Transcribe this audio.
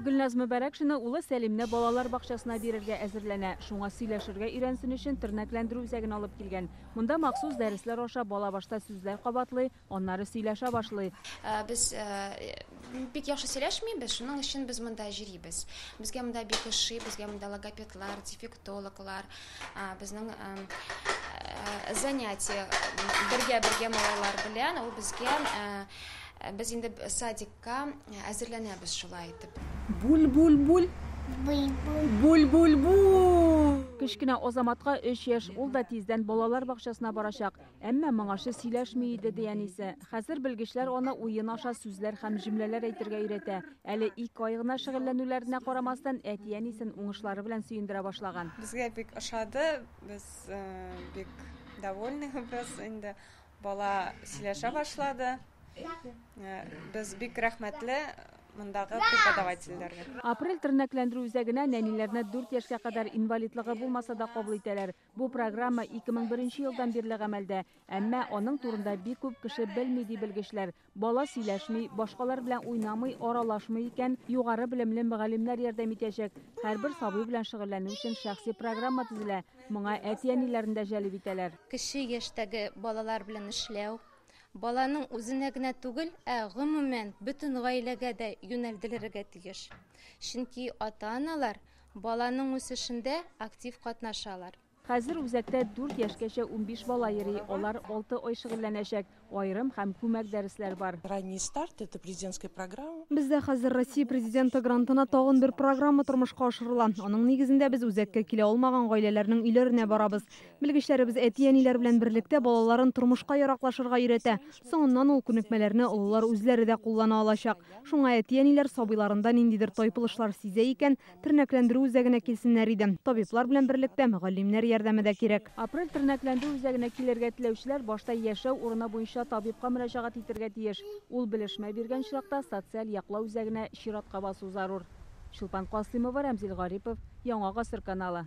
Гөлназ Мөбәрәкшина улы Сәлимне балалар бакчасына бирергә әзерләнә. Шуңа сөйләшергә өйрәнсен өчен тернәкләндерү үзәген алып килгән. Монда махсус дәресләр аша бала башта сүзләр кабатлый, аннары сөйләшә башлый. Э, без э, бик яхшы сөйләшмибез, шуның өчен без монда йөрибез. Безгә монда бик ошый, безгә монда логопедлар, дефектологлар, безнең э, занятие бергә-бергә малайлар белән ул безгә Ә без инде садикка әзерләнәбез шулай итеп. Буль-буль-буль. Буль-буль. Буль-буль-буль. Кечкенә Азаматка өч яшь, ул да тиздән балалар бакчасына барачак. Әмма моңарчы сөйләшми иде, ди әнисе. Хәзер белгечләр аны уен аша сүзләр һәм җөмләләр әйтергә өйрәтә. Әле ике ай гына шөгыльләнүләренә карамастан, әти-әнисен уңышлары белән сөендерә башлаган. Безгә бик ошады, без бик довольныйбыз инде. Бала сөйләшә башлады. Э, без бик рәхмәтле мондагы преподавательләргә. Апрель тернәкләндерү үзәгенә нәниләрне 4 яшькә кадәр инвалидлыгы булмаса да кабул итәләр. Бу программа 2001 елдан бирле гамәлдә, әмма аның турында бик күп кеше белми, ди белгечләр. Бала сөйләшми, башкалар белән уйнамый, аралашмый икән, югары белемле мөгаллимнәр ярдәм итәчәк. Һәрбер сабый белән шөгыльләнү өчен шәхси программа төзелә, моңа әти-әниләрне дә җәлеп итәләр. Кече яшьтәге балалар белән эшләү, баланың үзенә генә түгел, ә гомумән бөтен гаиләгә дә юнәлдерелергә тиеш. Чөнки ата-аналар баланың үсешендә актив катнашалар. Хәзер үзәктә дүрт яшькәчә унбиш бала йөри, алар алты ай шөгыльләнәчәк, аерым һәм күмәк дәресләр бар. Ранний старт, это президентская программа. Бездә хәзер Россия Президенты грантына тагын бер программа тормышка ашырыла. Аның нигезендә без үзәккә килә алмаган гаиләләрнең өйләренә барабыз. Белгечләребез әти-әниләр белән берлектә балаларын тормышка яраклашырга өйрәтә. Соңыннан ул күнекмәләрне олылар үзләре дә куллана алачак. Шуңа әти-әниләр сабыйларында ниндидер тайпылышлар сизә икән, Тернәкләндерү үзәгенә килсеннәр иде. Табиблар белән берлектә галимнәр ярдәме дә кирәк. Апрель тернәкләндерү үзәгенә килергә теләүчеләр башта яшәү урыны буенча табибка мөрәҗәгать итергә тиеш. Ул белешмә биргән очракта социаль яклау үзәгенә чиратка басу зарур. Чулпан Касыймова, Рәмзил Гарипов, Яңа гасыр каналы.